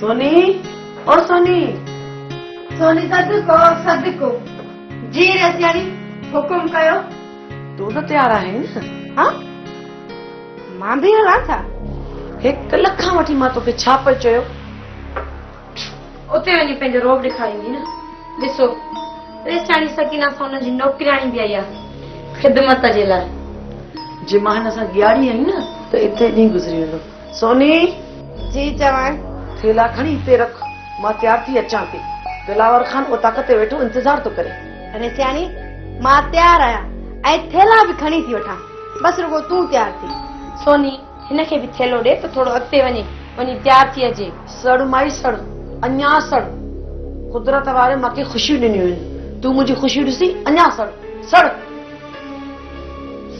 سوني او سوني سوني صدقو صدقو جي رسياڻي حڪم ڪيو تون ته تيار آهين نه ها مان به هلان ٿا هڪ لک کان وٺي مان توکي ڇا پئي چيو اتي وڃي پنهنجو روب ڏيکاريندي نه ڏسو رسياڻي سڪينا سون جي نوڪرياڻي به آئي آهي خدمت جي لاء جي مان هن سان ڳياڙي آهي نه ته اتي ڏينهن گذري ويندو سوني! جي چوان. ٿيلها کڻي هتي رک، مان تيار ٿي اچان ٿي. دلاور خان اوطاق تي ويٺو انتظار ٿو ڪري. اڙي سياڻي، مان تيار آهيان ۽ ٿيلها به کڻي ٿي وٺان. بس رڳو تون تيار ٿي. سوني، هن کي به ٿيلهو ڏي ته ٿورو اڳتي وڃي، وڃي تيار ٿي اچي. سڙ مائي سڙ، اڃا سڙ. قدرت واري مون کي خوشيون ڏنيون آهن، تون منهنجي خوشيون ڏسي اڃا سڙ، سڙ.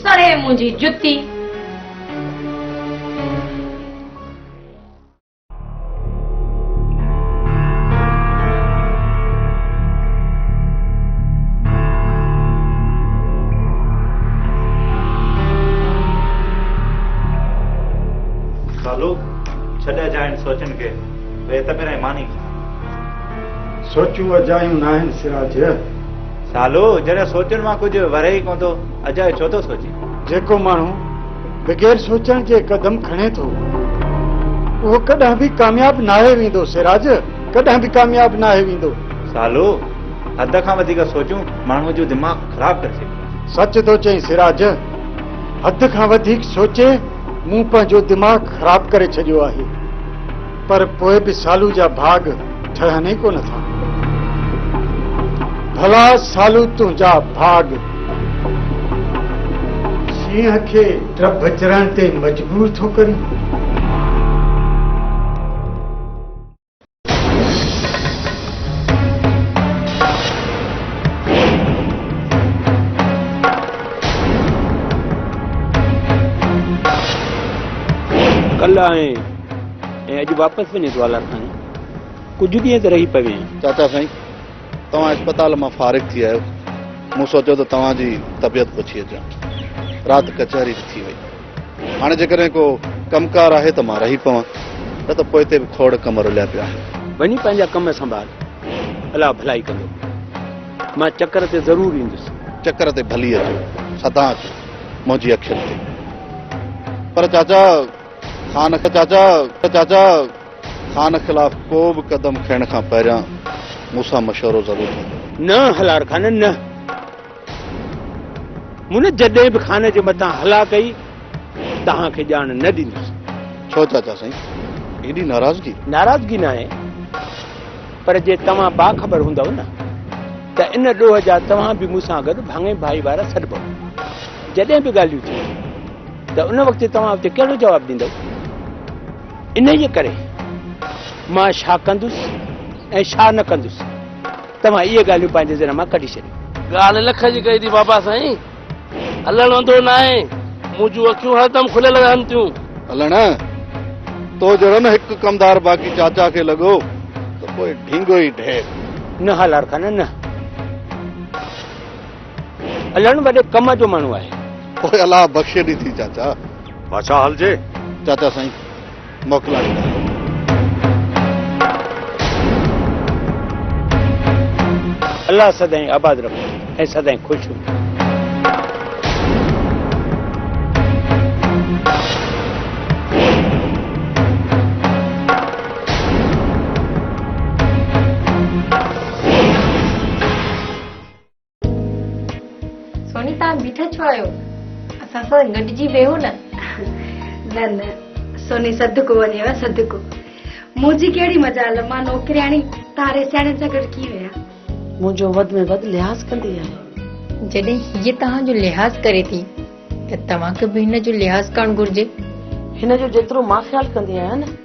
سڙي منهنجي جتي. سوچون اجايون ناهن سراج سالو، جڏهن سوچڻ مان ڪجهه ورهي ئي ڪونه ٿو، اجائي ڇو ٿو سوچين؟ جيڪو ماڻهو بغير سوچڻ جي قدم کڻي ٿو، اهو ڪڏهن به ڪامياب ناهي ويندو، سراج، ڪڏهن به ڪامياب ناهي ويندو. سالو، حد کان وڌيڪ سوچون ماڻهوء جو دماغ خراب ڪري ڇڏيندو آهي. سچ ٿو چئين سراج، حد کان وڌيڪ سوچي مون پنهنجو دماغ خراب ڪري ڇڏيو آهي. پر پوء به سالو جا ڀاڳ ٺهن ئي ڪونه ٿا. ڀلا سالو تنهنجا ڀاڳ. شينهن کي ڊڀ چرڻ تي مجبور ٿو ڪرين. ڪل ۽ ۽ اڄ واپس وڃي دوالر کان ڪجهه ڏينهن ته رهي پوين. چاچا سائين توهان اسپتال مان فارغ ٿي آيو، مون سوچيو ته توهان جي طبيعت پڇي اچان. رات ڪچهري به ٿي وئي. هاڻي جيڪڏهن ڪو ڪم ڪار آهي ته مان رهي پوان، نه ته پوئتي به کوڙ ڪم رليا پيا آهن. وڃي پنهنجا ڪم سنڀال، الله ڀلائي ڪندو. مان چڪر تي ضرور ايندس. چڪر تي ڀلي اچو، سدا اچو، منهنجي اکين تي. پر چاچا خان چاچا! چاچا! خان خلاف ڪو به قدم کڻڻ کان پهريان مون سان مشورو ضرور ڪجو. نه هلار خان نه! مون جڏهن به خان جي مٿان هلا ڪئي، توهان کي ڄاڻ نه ڏيندس. ڇو چاچا سائين! ايڏي ناراضگي؟ ناراضگي ناهي، پر جي توهان باخبر هوندؤ نه، ته ان ڏوهه جا توهان به مون سان گڏ ڀاڱي ڀائي وارا سڏبؤ. جڏهن به ڳالهيون ٿيون. ته ان وقت توهان اتي ڪهڙو جواب ڏيندؤ؟ انهيء ڪري مان ڇا ڪندس ۽ ڇا نه ڪندس، توهان اهي ڳالهيون پنهنجي ذهن مان ڪڍي ڇڏيو. ڳالهه لک جي ڪئي ٿي بابا سائين، الهڻ اندو ناهي، مون جون اکيون هردم کليل رهن ٿيون. الهڻ، تو جهڙو نه هڪ ڪمدار باقي چاچا کي لڳو ته پوء ڍينگو ئي ڍير. نه هالارخان نه. الهڻ وڏي ڪم جو ماڻهو آهي. اوء الله بخشي ڏي ٿي چاچا. بادشاهه هلجي. چاچا سائين موڪلائي ڏيو. الله سدائين آباد رکو ۽ سدائين خوش هجو. سوني تان بيٺا ڇو آهيو اسان سان گڏجي ويهو نه نه نه سوني صدقو وڃيو صدقو منهنجي ڪهڙي مجال مان نوڪرياڻي تاري سياڻي سان گڏ ڪيئن ويا منهنجو وڌ ۾ وڌ لحاظ ڪندي آهي جڏهن هيء توهان جو لحاظ ڪري ٿي ته توهان کي به هن جو لحاظ ڪرڻ گهرجي هن جو جيترو مان خيال ڪندي آهيان نه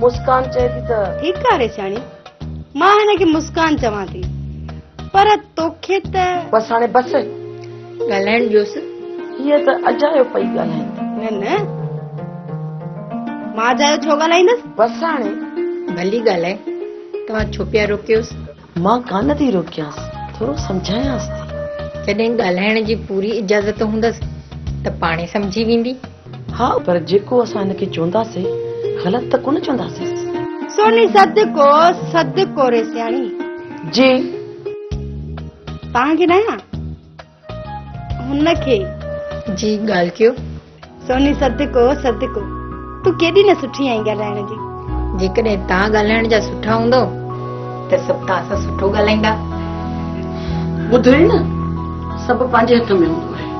مسڪان چئي ٿي ته. ٺيڪ آ ريشاڻي. مان هن کي مسڪان چوان ٿي. پر توکي ته. بس هاڻي بس. ڳالهائڻ ڏيوس. هيء ته اجايو پئي ڳالهائي. نه نه. مان اجايو ڇو ڳالهائيندس. بس هاڻي. ڀلي ڳالهائي. توهان ڇو پيا روڪيوس. مان ڪانه ٿي روڪيانس ٿورو سمجهايانس ٿي. جڏهن ڳالهائڻ جي پوري اجازت هوندس ته پاڻهي سمجهي ويندي. ها پر جيڪو اسان هن کي چونداسين غلط ته ڪونه چونداسينس. سوني سڌ ڪو سڌ ڪوري سياڻي. جي. توهان کي ناهيان. هن کي. جي ڳالهه ڪيو. سوني صدقو صدقو تون ڪيڏي نه سٺي آهين ڳالهائڻ جي. جيڪڏهن تان ڳالهائڻ جا سٺا هوندو ته سڀ تان سان سٺو ڳالهائيندا. ٻڌئي نه سڀ پنهنجي هٿ ۾ هوندو آهي.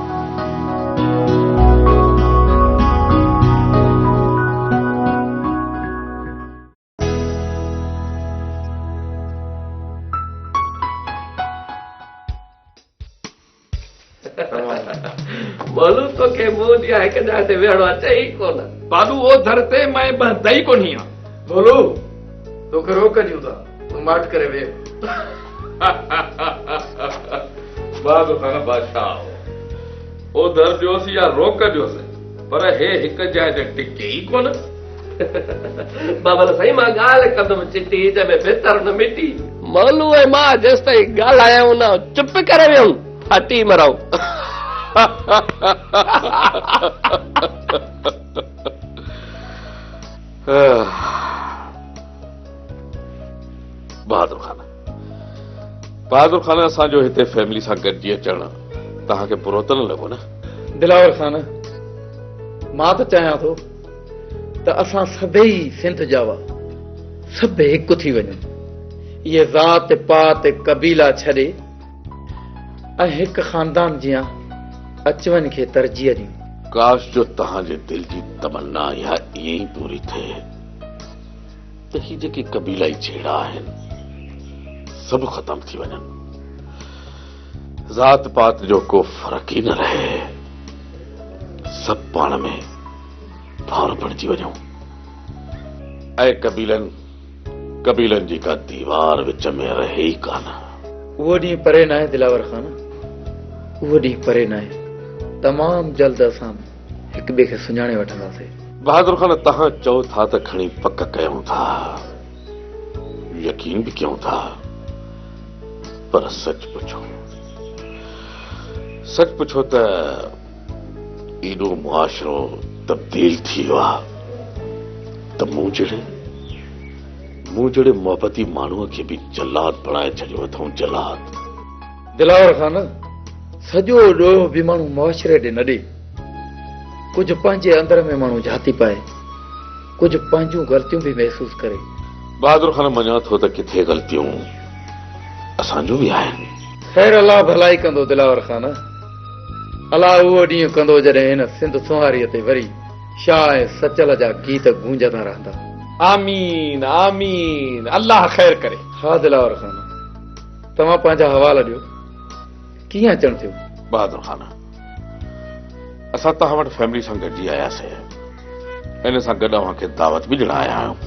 معلوم توکي مون جيان هڪ جاء تي ويهڻو اچي ئي ڪونه بابو او در تي مئين بهندي ئي ڪونهي آ بولو توکي روڪ ڏيون ٿا تون ماٺ ڪري ويهه باغ خان بادشاهه او در ڏيوس يا روڪ ڏيوس پر هي هڪ جاء تي ٽڪي ئي ڪونه بابل سائين مان ڳالهه ڪندم چٽي جنهن ۾ بهتر نه مٽي. مولو ۽ مان جيستائين ڳالهايائون نه چپ ڪري ويهون ڦاٽي مرائون. بهادر خان بهادر خان اسان جو هتي فيملي سان گڏجي اچڻ توهان کي برو ته نه لڳو نه. دلاور خان مان ته چاهيان ٿو ته اسان سڀيئي سنڌ جا هئا، سڀ هڪ ٿي وڃون، اهي ذات پات قبيلا ڇڏي ۽ هڪ خاندان جيان اچ وڃ کي ترجيح ڏيون. ڪاش جو توهان جي دل جي تمنا اها ائين ئي پوري ٿئي ته هي جيڪي قبيلائي جهيڙا آهن سڀ ختم ٿي وڃن، ذات پات جو ڪو فرق ئي نه رهي، سڀ پاڻ ۾ ڌار بڻجي وڃون. اهي قبيلن قبيلن جي ڪا ديوار وچ ۾ رهي ئي ڪانه. اهو ڏينهن پري ناهي دلاور خان، اهو ڏينهن پري ناهي، تمام جلد اسان هڪ ٻئي کي سڃاڻي وٺنداسي. بهادر خان توهان چئو ٿا ته کڻي پڪ ڪيون ٿا، يقين به ڪيون ٿا، پر سچ پڇو سچ پڇو ته. ايڏو معاشرو تبديل ٿي ويو آ ته مون جهڙي مون جهڙي محبتي ماڻهوء کي به جلاد بڻائي ڇڏيو اٿئون جلاد. دلاور خان سڄو ڏوهه به ماڻهو معاشري ڏي نه ڏي. ڪجهه پنهنجي اندر ۾ ماڻهو جهاتي پائي. ڪجهه پنهنجون غلطيون به محسوس ڪري. بهادر خان مڃان ٿو ته ڪٿي غلطيون اسان جون به آهن. خير الله ڀلائي ڪندو دلاور خان. الا اهو ڏينهن ڪندو جڏهن هن سنڌ سونهاري تي وري شاهه ۽ سچل جا گيت گونجندا رهندا. آمين آمين الله خير ڪري. ها دلاور خان توهان پنهنجا حوال ڏيو ڪيئن اچڻ ٿيو. بهادر خان اسان توهان وٽ فيملي سان گڏجي آياسين ان سان گڏ اوهان کي دعوت به ڏيڻ آيا آهيون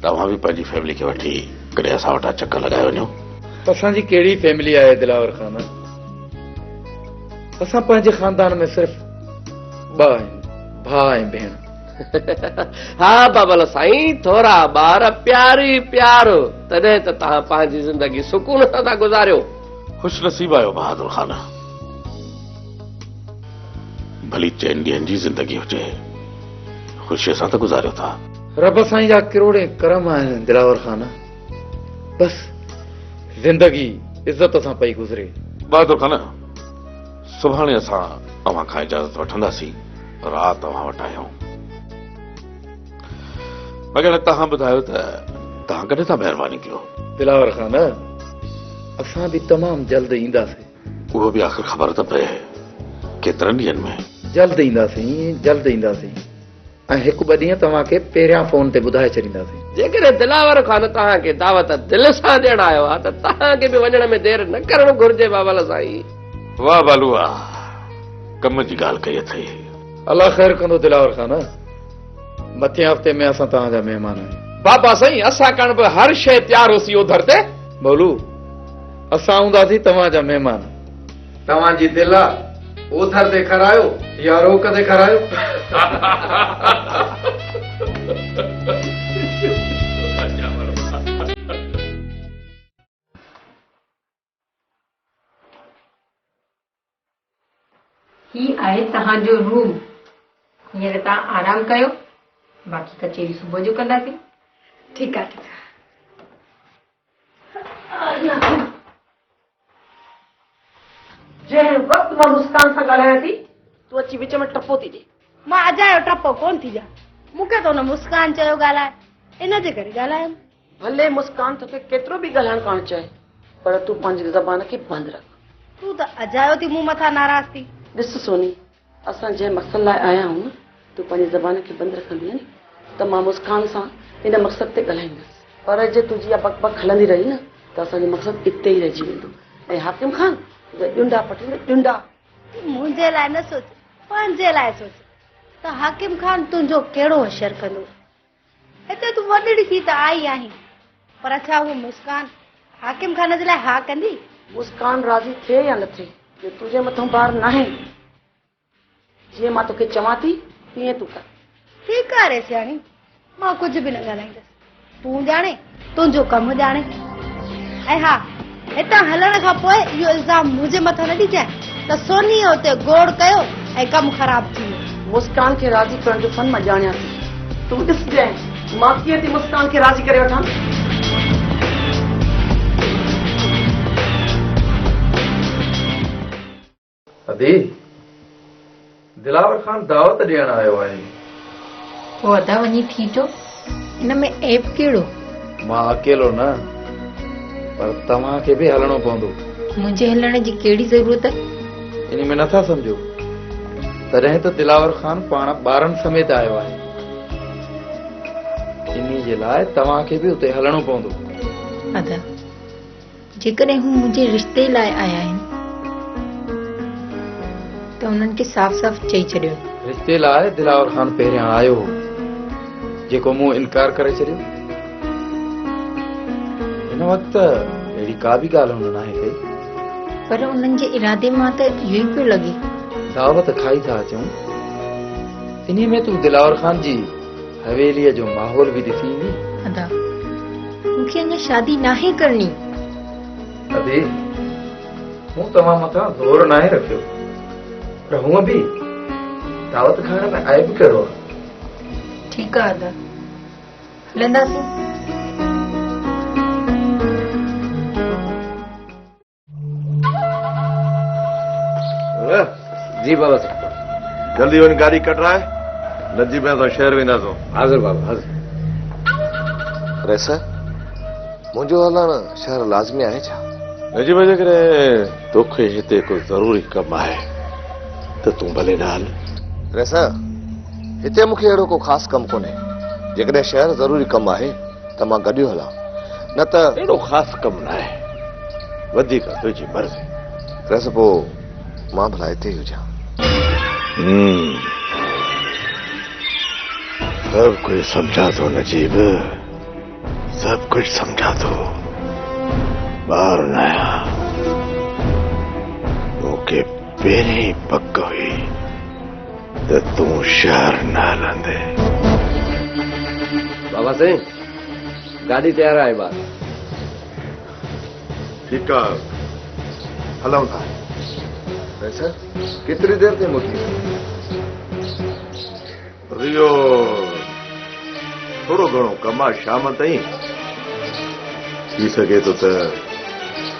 ته اوهان به پنهنجي فيملي کي وٺي ڪڏهن اسان وٽان چڪر لڳائي وڃو. اسان جي ڪهڙي فيملي آهي دلاور خان. اسان پنهنجي خاندان ۾ صرف ٻه آهيون ڀاء ۽ ڀيڻ ها بابل سائين ٿورا ٻار پياري پيار تڏهن ته توهان پنهنجي زندگي سڪون سان ٿا گذاريو خوش نصيب آهيو بهادر خان ڀلي چئن ڏينهن جي زندگي هجي خوشي سان ته گذاريو ٿا رب سائين جا ڪروڙين ڪرم آهن دلاور خان بس زندگي عزت سان پئي گذري. بهادر خان سڀاڻي اسان اوهان کان اجازت وٺنداسين رات اوهان وٽ آهيون. مگر توهان ٻڌايو ته توهان ڪڏهن ٿا مهربان نڪريو. دلاور خان اسان به تمام جلد اينداسين. اهو به آخر خبر ته پئي ڪيترن ڏينهن ۾. جلد اينداسين جلد اينداسين. ۽ هڪ ٻه ڏينهن توهان کي پهريان فون تي ٻڌائي ڇڏينداسين. جيڪڏهن دلاور خان توهان کي دعوت دل سان ڏيڻ آيو آهي ته توهان کي به وڃڻ ۾ دير نه ڪرڻ گهرجي بابل سائين. واه بالو آء ڪم جي ڳالهه ڪئي اٿئي. الله خير ڪندو دلاور خان مٿين هفتي ۾ اسان توهان جا مهمان آهيون. بابا سائين اسان ڪڻ به هر شيء تيار هوسي اوڌر تي. بولو اسان هونداسين توهان جا مهمان. توهان جي دل آ اوڌر تي کرايو يا روڪ تي کرايو هي آهي توهان جو روم هينئر توهان آرام ڪيو باقي ڪچهري صبح جو ڪنداسين ٺيڪ آهي ٺيڪ آهي جنهن وقت مان مسڪان سان ڳالهايان ٿي، تون اچي وچ ۾ ٽپو ٿي ڏين. مان اجايو ٽپو ڪونه ٿي ڏيان. مون کي ته ان مسڪان چيو ڳالهاء، ان جي ڪري ڳالهايم. ڀلي مسڪان توکي ڪيترو به ڳالهائڻ ڪانه چاهي، پر تون پنهنجي زبان کي بند رک. تون ته اجايو ٿي مون مٿان ناراض ٿي. ڏس سوني، اسان جنهن مقصد لاء آيا آهيون، تون پنهنجي زبان کي بند رکندينء ته مان مسڪان سان ان مقصد تي ڳالهائيندس، پر جي تنهنجي اها بڪ بڪ هلندي رهي نه ته اسان جو مقصد اتي ئي رهجي ويندو ۽ حاڪم خان تنهنجا ڄنڊا پٽيندو، ڄنڊا! تون منهنجي لاء نه سوچ، پنهنجي لاء سوچ ته حاڪم خان تنهنجو ڪهڙو حشر ڪندو، هتي تون وڏڙي ٿي ته آئي آهين، پر ڇا هوء مسڪان حاڪم خان جي لاء ها ڪندي؟ مسڪان راضي ٿئي يا نه ٿئي، اهو تنهنجي مٿان بار ناهي. جيئن مان توکي چوان ٿي، تيئن تون ڪر. ٺيڪ آهي ريسياڻي، مان ڪجهه به نه ڳالهائيندس. تون ڄاڻين، تنهنجو ڪم ڄاڻي. ۽ ها، هتان هلڻ کان پوء اهو الزام منهنجي مٿان نه ڏجانء ته سونيء اتي گوڙ ڪيو ۽ ڪم خراب ٿي ويو. مسڪان کي راضي ڪرڻ جو فن مان ڄاڻيان ٿي. تون ڏسجانء مان ڪيئن ٿي مسڪان کي راضي ڪري وٺان. ادي، دلاور خان دعوت ڏيڻ آيو آهي. پوء ادا وڃي ٿي چو. ان ۾ عيب ڪهڙو؟ مان اڪيلو نه، پر توهان کي به هلڻو پوندو. منهنجي هلڻ جي ڪهڙي ضرورت؟ ان ۾ نٿا سمجهو؟ تڏهن ته دلاور خان پاڻ ٻارن سميت آيو آهي. انهي جي لاء توهان کي به اتي هلڻو پوندو. ادا. جيڪڏهن هو منهنجي رشتي لاء آيا آهن ته انهن کي صاف صاف چئي ڇڏيو. رشتي لاء دلاور خان پهريان آيو هو جيڪو مون انڪار ڪري ڇڏيو. هن وقت اهڙي ڪا به ڳالهه هن ناهي ڪئي. پر انهن جي ارادي مان ته اهو ئي پيو لڳي. دعوت کائي ٿا اچون انهي ۾ تون دلاور خان جي حويليء جو ماحول به ڏسي ايندين. ادا مون کي اڃا شادي ناهي ڪرڻي. ادي مون توهان مٿان زور ناهي رکيو پر هونء به دعوت کائڻ ۾ عيب ڪهڙو آهي. ٺيڪ آهي ادا هلنداسين. جي بابا صاحب جلدي وڃ گاڏي ڪڍرائي نه جي بابا شهر وينداسون حاضر بابا حاضر ريس منهنجو هلڻ شهر لازمي آهي ڇا نجي بابا جيڪڏهن توکي هتي ڪو ضروري ڪم آهي ته تون ڀلي نه هل ريس هتي مونکي اهڙو ڪو خاص ڪم ڪونهي جيڪڏهن شهر ضروري ڪم آهي ته مان گڏيو هلان نه ته. اهڙو خاص ڪم ناهي. وڌيڪ تنهنجي مرضي. رس پوء مان ڀلا هتي ئي هجان. هوم سڀ ڪجهه سمجهان ٿو نجيب سڀ ڪجهه سمجهان ٿو ٻار نه آهيان مون کي پهرين ئي پڪ هئي. ته تون شهر نه هلندي. بابا سائين گاڏي تيار آهي ٻار. ٺيڪ آ هلون ٿا. اڇا ڪيتري دير تائين موٽي ايندين. ريو ٿورو گهڻو ڪم آ شام تائين ٿي سگهي ٿو ته.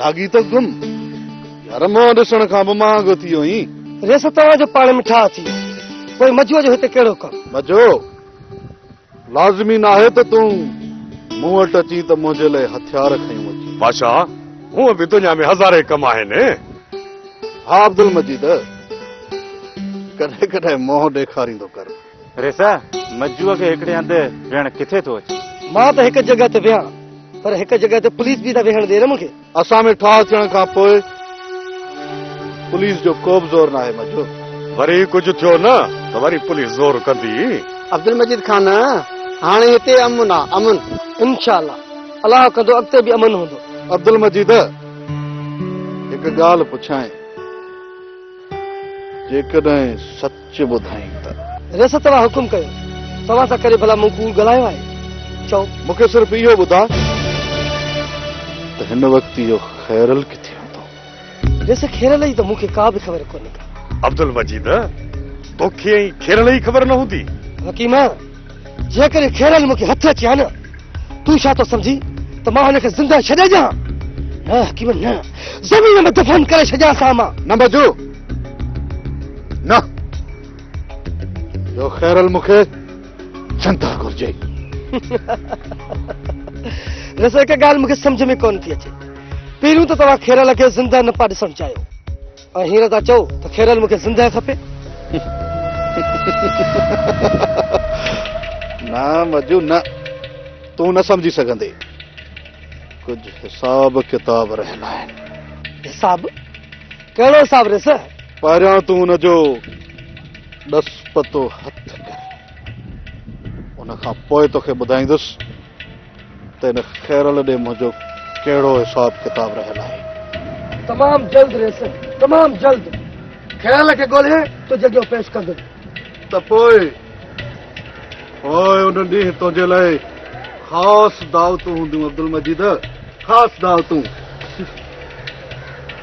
لاڳي ته گم، يار منهن ڏسڻ کان به مهانگو ٿي ويو آهين. ريس توهان جو پاڻ ۾ ٺاهه ٿي ويو، پوء مجوء جو هتي ڪهڙو ڪم؟ مجو، لازمي ناهي ته تون مون وٽ اچين ته منهنجي لئي هٿيار کنيون اچين. بادشاهه، هونء به دنيا ۾ هزارين ڪم آهن. ها عبدالمجيد، ڪڏهن ڪڏهن منهن ڏيکاريندو ڪر. ريسا، مجوء کي هڪڙي هنڌ ويهڻ ڪٿي ٿو اچي؟ مان ته هڪ جڳهه تي ويهان، پر هڪ جڳهه تي پوليس به ته ويهڻ ڏي نه مون کي. اسان ۾ ٺاهه ٿيڻ کان پوء پوليس جو ڪوبه زور ناهي مجو. وري ڪجهه ٿيو نه ته وري پوليس زور ڪندي. عبدالمجيد خان، هاڻي هتي امن آ، امن. انشاء الله، الله ڪندو اڳتي به امن هوندو. عبدالمجيد، هڪ ڳالهه پڇانء، جيڪڏهن سچ. چي ٻڌائين ته. ريس توهان حڪم ڪيو. توهان سان ڪڏهن ڀلا مون ڪوڙ ڳالهايو آهي؟ چئو. مون کي صرف اهو ٻڌاء ته هن وقت اهو خيرل ڪٿي هوندو؟ ريس خيرل جي ته مون کي ڪا به خبر ڪونهي ڪا. عبدالمجيد توکي ۽ خيرل جي خبر نه هوندي؟ حڪيمه! جيڪڏهن خيرن مون کي هٿ اچي ها نه، تون ڇا ٿو سمجهين ته مان هن کي زنده ڇڏي ڏيان ها؟ نه حڪيم نه، زمين ۾ دفن ڪري ڇڏيانس ها مان. نه بجو، نه، جو خيرل مون کي زنده گهرجي. رضا هڪ ڳالهه مون کي سمجهه ۾ ڪونه ٿي اچي، پهريون ته توهان خيرل کي زنده نه پيا ڏسڻ چاهيو. ۽ هينئر ٿا چئو ته خيرل مون کي زندهه کپي؟ نه مجو نه، تون نه سمجهي سگهندي. ڪجهه حساب ڪتاب رهيل آهن. حساب؟ ڪهڙو حساب ريس؟ پهريان تون ان جو ڏس پتو هٿ ڪر. ان کان پوء توکي ٻڌائيندس. ته هن خيرل ڏي منهنجو ڪهڙو حساب ڪتاب رهيل آهي. تمام جلد ريسن تمام جلد خيرل کي ڳولهي تنهنجي اڳيان پيش ڪندس. ته پوء پوء ان ڏينهن تنهنجي لاء خاص دعوتون هونديون عبدالمجيد خاص دعوتون.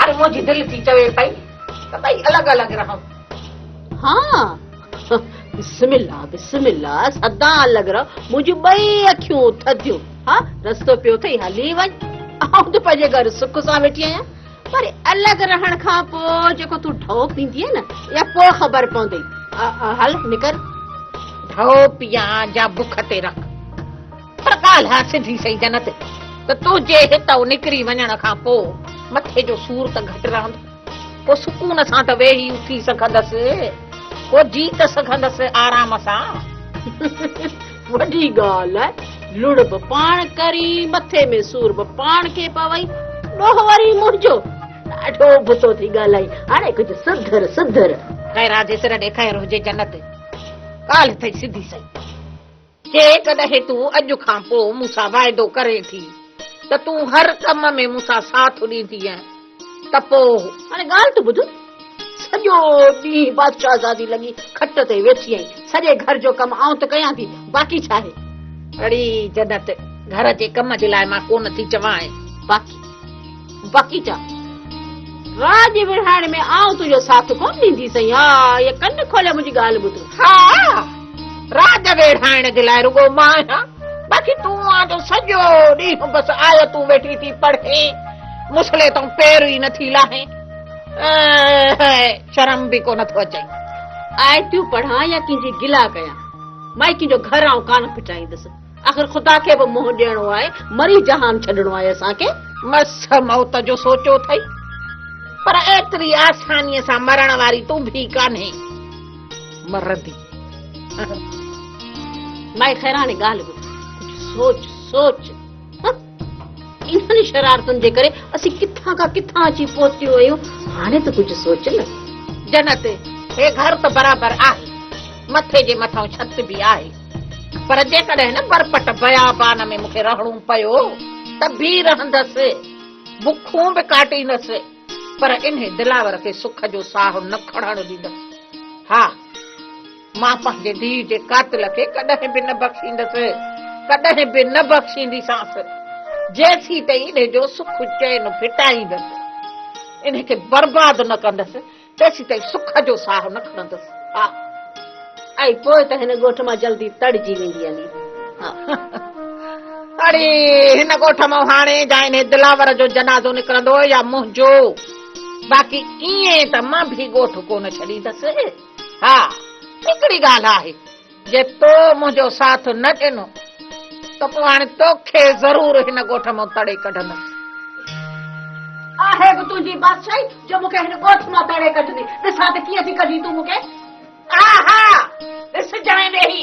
اڙي منهنجي دل ٿي چوي پئي ته ٻئي الڳ الڳ رهون. ها بسم الله بسم الله سدا الڳ رهو منهنجون ٻئي اکيون ٿڌيون ها رستو پيو اٿئي هلي وڃ آئون ته پنهنجي گهر سک سان ويٺي آهيان پر الڳ رهڻ کان پوء جيڪو تون ڍؤ پيندينء نه اها پوء خبر پوندئي هل نڪر ڍؤ پيان جا بک تي رک پر ڳالهه آ سڌي سئي جنت ته تنهنجي هتئون نڪري وڃڻ کان پوء مٿي جو سور ته گهٽ رهندو. پوء سڪون سان ته ويهي اٿي سگهندس. پوء جي ته سگهندس آرام سان. وڏي ڳالهه آ. لڙ به پاڻ ڪرين، مٿي ۾ سور به پاڻ کي پوئي. ڏوهه وري منهنجو. ڏاڍو ابتو ٿي ڳالهائين. هاڻي ڪجهه سڌر سڌر. خير آ جيسر ڏي خير هجي جنت. ڳالهه ٿئي سڌي سئي. جيڪڏهن تون اڄ کان پوء مون سان واعدو ڪرين ٿي ته تون هر ڪم ۾ مون سان ساٿ ڏيندينء ته پوء. هاڻي ڳالهه ته ٻڌ. سڄو ڏينهن بادشاهزادي لڳي کٽ تي ويٺي ۽ سڄي گهر جو ڪم آئون ته ڪيان ٿي، باقي ڇا آهي؟ اڙي جنت، گهر جي ڪم جي لاء مان ڪونه ٿي چوانء. باقي. بڪيٽا، راڄ وڙهائڻ ۾ آئون تنهنجو ساٿ ڪونه ڏينديسئين. ها، اهي ڪن کولي منهنجي ڳالهه ٻڌ. ها، راڄ ويڙهائڻ جي لاء رڳو مان آهيان، باقي تون آن جو سڄو ڏينهن بس آيتون ويٺي ٿي پڙهين، مصلي تان پير ئي نٿي لاهين. هي، شرم به ڪونه ٿو اچئين. آيتون پڙهان يا ڪنهن جي گلا ڪيان، مائڪين جو گهر آئون ڪانه ڦٽائيندس. آخر خدا کي به منهن ڏيڻو آهي، مري جهان ڇڏڻو آهي اسان کي. مس موت جو سوچيو اٿئي، پر ايتري آسانيء سان مرڻ واري تون ڀي ڪانهين. مرندي. مائي خيراڻي ڳالهه ٻڌ، ڪجهه سوچ سوچ. انهن شرارتن جي ڪري اسين ڪٿان کان ڪٿان اچي پهتيون آهيون، هاڻي ته ڪجهه سوچ نه. جنت، هي گهر ته برابر آهي، مٿي جي مٿئون ڇت به آهي، پر جيڪڏهن هن برپٽ بيابان ۾ مون کي رهڻو پيو ته به رهندس، بکون به ڪاٽيندس، پر انهي دلاور کي سک جو ساهه نه کڻڻ ڏيندس. ها! مان پنهنجي ڌيء جي قاتل کي ڪڏهن به نه بخشيندس، ڪڏهن به نه بخشينديسانس، جيسين تائين ان جو سک چين ڦٽائيندس، ان کي برباد نه ڪندس، تيسين تائين سک جو ساهه نه کڻندس. ها! ۽ پوء ته هن ڳوٺ مان جلدي تڙجي ويندي علي. ها! اڙي، هن ڳوٺ مان هاڻي جا انهي دلاور جو جنازو نڪرندو يا منهنجو، باقي ائين ته مان به ڳوٺ ڪونه ڇڏيندس. ها هڪڙي ڳالهه آهي جي تو منهنجو ساٿ نه ڏنو ته پوء هاڻي توکي ضرور هن ڳوٺ مان تڙي ڪڍندس. آهي به تنهنجي بادشاهي جو مون کي هن ڳوٺ مان تڙي ڪڍندين. ڏسان ته ڪيئن ٿي ڪڍين تون مون کي. ها ها ڏسجانء ويهي.